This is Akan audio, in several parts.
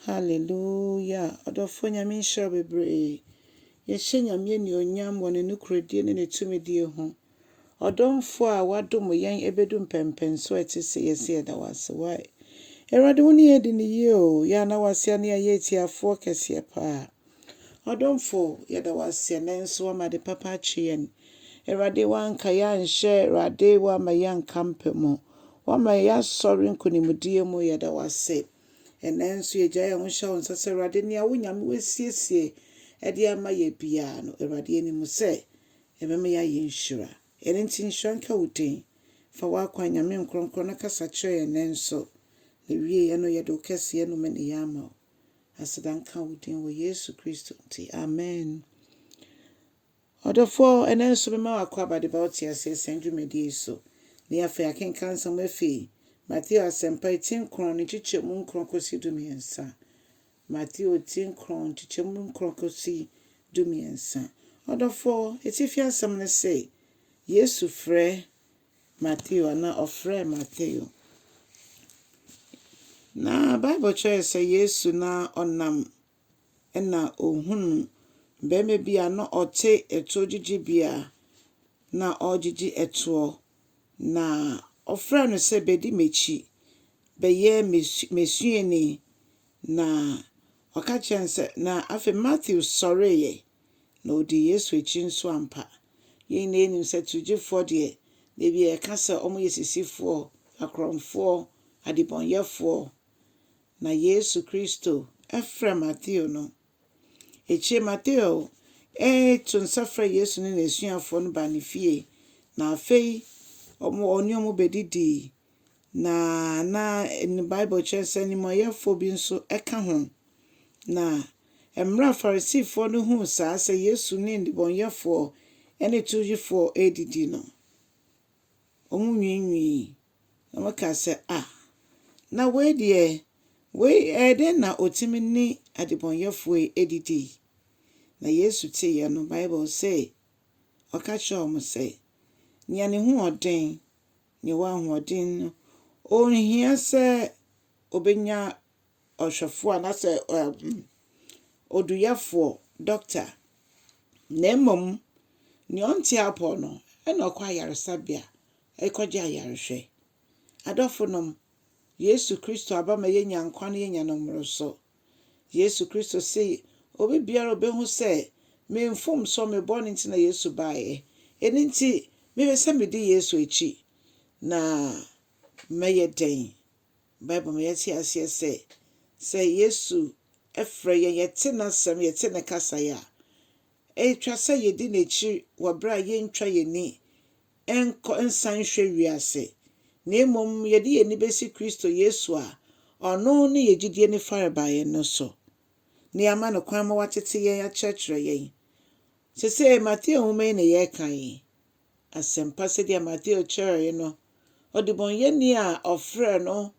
Hallelujah! Ɔdɔfoɔ Nyame nhyira wo bebree. Yɛhyɛ Nyame anuonyam wɔ Ne nokorɛdie ne Ne tumidie ho. Ɔdomfoɔ a wadom yɛn ɛbɛdu mpɛnpɛnsoɔ a ɛte sei yɛse yɛda wo ase. Wai. Awurade wo ne yɛn adi no yie o. Yɛn a na wase a ne yɛayɛ atiafoɔ kɛseɛ paa. Ɔdomfoɔ yɛda wo ase ɛnɛ nso wama ade papa akye yɛn. Awurade wanka yɛn anhyɛ Awurade wama yɛn anka mpɛ mu. Wama yɛn asɔre nkonimdie mu yɛda wo ase. Ɛnnɛ nso yɛgyae yɛn ho hyɛ wo nsa sɛ, Awurade, nea wo Nyame woasiesie de ama yɛ biara no, Awurade, yɛnim sɛ ɛbɛma yɛayɛ nhyira. Ɛno nti nhyira nka wo din. Fa w'akwan, Nyame Nkronkron, na kasa kyerɛ yɛn nnɛ nso, na wieɛ no yɛde wo kɛseyɛ nomeneyɛ ama wo. Aseda nka wo din wɔ Yesu Kristo nti, amen. Ɔdɔfo, ɛnnɛ nso mema wo akwaaba de ba wo teaseɛ saa dwumadie yi so. Ne afei yɛakenkan nsɛm afi Mateo Asɛmpa yi ti nkron ne nkyekyɛmu nkron kɔsi dumiɛnsa. Mateo ti nkron nkyekyɛmu nkron kɔsi dumiɛnsa. Ɔdɔfo, atifi asɛm ne se, Yesu frɛ Mateo anaa ɔfrɛɛ Mateo. Na Bible kyerɛ yɛ sɛ Yesu na ɔnam na ɔhunuu barima bi a na ɔte ɛtoɔ gyigyibea na ɔregyigye ɛtoɔ. Na ɔfrɛɛ no sɛ, bɛdi m'akyi, bɛyɛ m'asuani. Na ɔka kyerɛɛ no sɛ, na afei Matthew sɔreeɛ, na ɔdii Yesu akyi nso ampa. Yɛn nyinaa nim sɛ towgyefoɔ deɛ, baabi a yɛka sɛ wɔyɛ sisifoɔ, akorɔmfoɔ, adebɔnyɛfoɔ, na Yesu Kristo frɛ Mateo no. Akyire Mateo to nsa frɛ Yesu ne n'asuafoɔ no baa ne fie, na afei ɔne wɔn bɛdidii, na na Bible kyerɛ sɛ animuɔyɛfoɔ bi nso ka ho. Na mmerɛ a Farisifoɔ no huu saa sɛ Yesu ne nnebɔneyɛfoɔ ne towgyefoɔ redidi no, wɔnwiinwii. na wɔka sɛ, Ah, na wei deɛ, wei, ɛyɛ dɛn na ɔtumi ne adebɔnyɛfoɔ yi adidi? Na Yesu teeɛ no, Bible se, Ɔka kyerɛɛ wɔn sɛ, Nea ne ho wɔ den, nea ɔwɔ ahoɔden no, ɔnhia sɛ ɔbɛnya ɔhwɛfoɔ anaasɛ ɛɛm, oduyɛfoɔ, doctor, na mmom nea ɔnte apɔ no, ɛna ɔkɔ ayaresabea rekɔgye ayarehwɛ. Adɔfonom, Yesu Kristo aba ma yɛnya nkwa na yɛnya no mmoroso. Yesu Kristo se, Obibiara a obehu sɛ me mfomsoɔ, me bɔne nti na Yesu baeɛ, eno nti mepɛ sɛ medi Yesu akyi na mɛyɛ dɛn? Bible ma yɛte aseɛ sɛ, sɛ Yesu frɛ yɛn, yɛte n'asɛm, yɛte ne kasae a, ɛtwa sɛ yɛdi n'akyi wɔ berɛ a yɛntwa yɛn ani nkɔ nsan nhwɛ wiase, na mmom yɛde yɛn ani besi Kristo Yesu a ɔno ne yɛn gyidie no farebae no so, na yɛama no kwan ma watete yɛn akyerɛkyerɛ yɛn. Seesei Mateo nwoma yi na yɛreka yi. Asɛmpa sɛdeɛ Mateo kyerɛɛe no, ɔdebɔneyɛni a ɔfrɛɛ no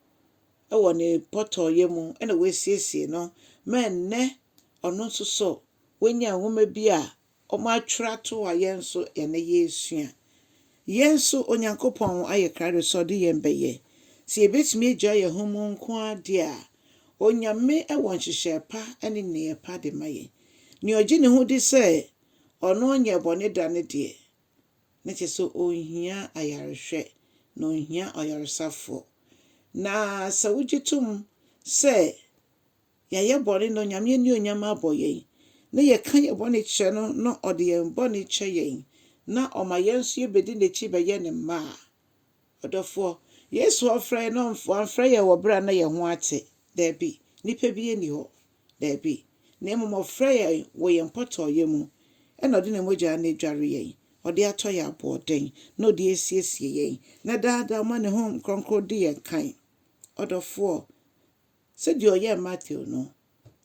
wɔ ne pɔtɔɔyɛ mu na wasiesie no ma ɛnnɛ ɔno nso so wanya nwoma bi a Wɔatwerɛ ato a yɛn nso ɛnnɛ yɛresua. Yɛn nso, Onyankopɔn ayɛ krado sɛ ɔde yɛn bɛyɛ. Sɛ yɛbɛtumi agyaa yɛn ho mu nko ara deɛ a, Onyame wɔ nhyehyɛɛ pa ne nneyɛɛ pa de ma yɛn. Nea ɔgye ne ho di sɛ ɔno nyɛɛ bɔne da no deɛ, na kyerɛ sɛ ɔnhia ayarehwɛ, na ɔnhia ɔyaresafoɔ. Na sɛ wogye tom sɛ. Yɛayɛ bɔne na Onyame anuonyam abɔ yɛn, na yɛka yɛn bɔne kyerɛ no na ɔde yɛn bɔne kyɛ yɛn, na ɔma yɛn nso yɛbɛdi n'akyi bɛyɛ ne mma a. Ɔdɔfoɔ, Yesu ɔmfrɛ yɛn na wamfrɛ yɛn wɔ berɛ a na yɛn ho ate, daabi, nipa biara nni hɔ, daabi, na mmom ɔfrɛ yɛn wɔ yɛn mpɔtɔɔyɛ mu, ɛna ɔde ne mogyaa no adware yɛn, ɔde atɔ yɛn aboɔden, na ɔde asiesie yɛn, na daa daa ɔma ne Honhom Kronkron di yɛn kan. Ɔdɔfoɔ. Sɛdeɛ ɔyɛɛ Mateo no,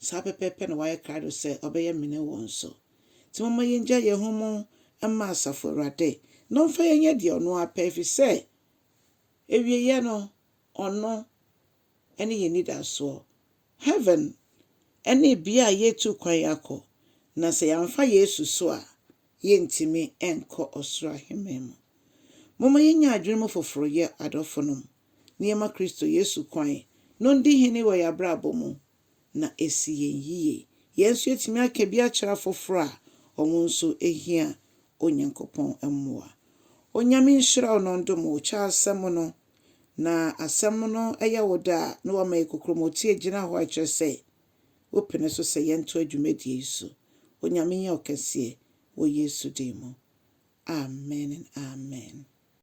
saa pɛpɛɛpɛ na wayɛ krado sɛ ɔbɛyɛ me ne wo nso. Nti momma yɛngya yɛn ho mu mma Asafo Awurade, na ɔmfa yɛn nyɛ deɛ ɔno ara pɛ, ɛfiri sɛ awieeɛ no, ɔno ne yɛn anidasoɔ. Heaven ne bea a yɛretu kwan akɔ, na sɛ yɛamfa Yesu so a, yɛrentumi nkɔ ɔsoro aheman mu. Momma yɛnnya adwene mu foforoyɛ, adɔfonom. na yɛma Kristo Yesu kwan na ɔndi hene wɔ yɛn abrabɔ mu na asi yɛn yiye. Yɛn nso yɛatumi aka bi akyerɛ afoforo a wɔn nso hia Onyankopɔn mmoa. Onyame nhyira wo na ɔndom wo. Kyɛ asɛm no na asɛm no yɛ wo dɛ a na wama yɛ kokorom. Otie gyina hɔ a ɛkyerɛ sɛ wopene so sɛ yɛntoa dwumadie yi so. Onyame nyɛ wo kɛseɛ wɔ Yesu din mu. Amen and amen.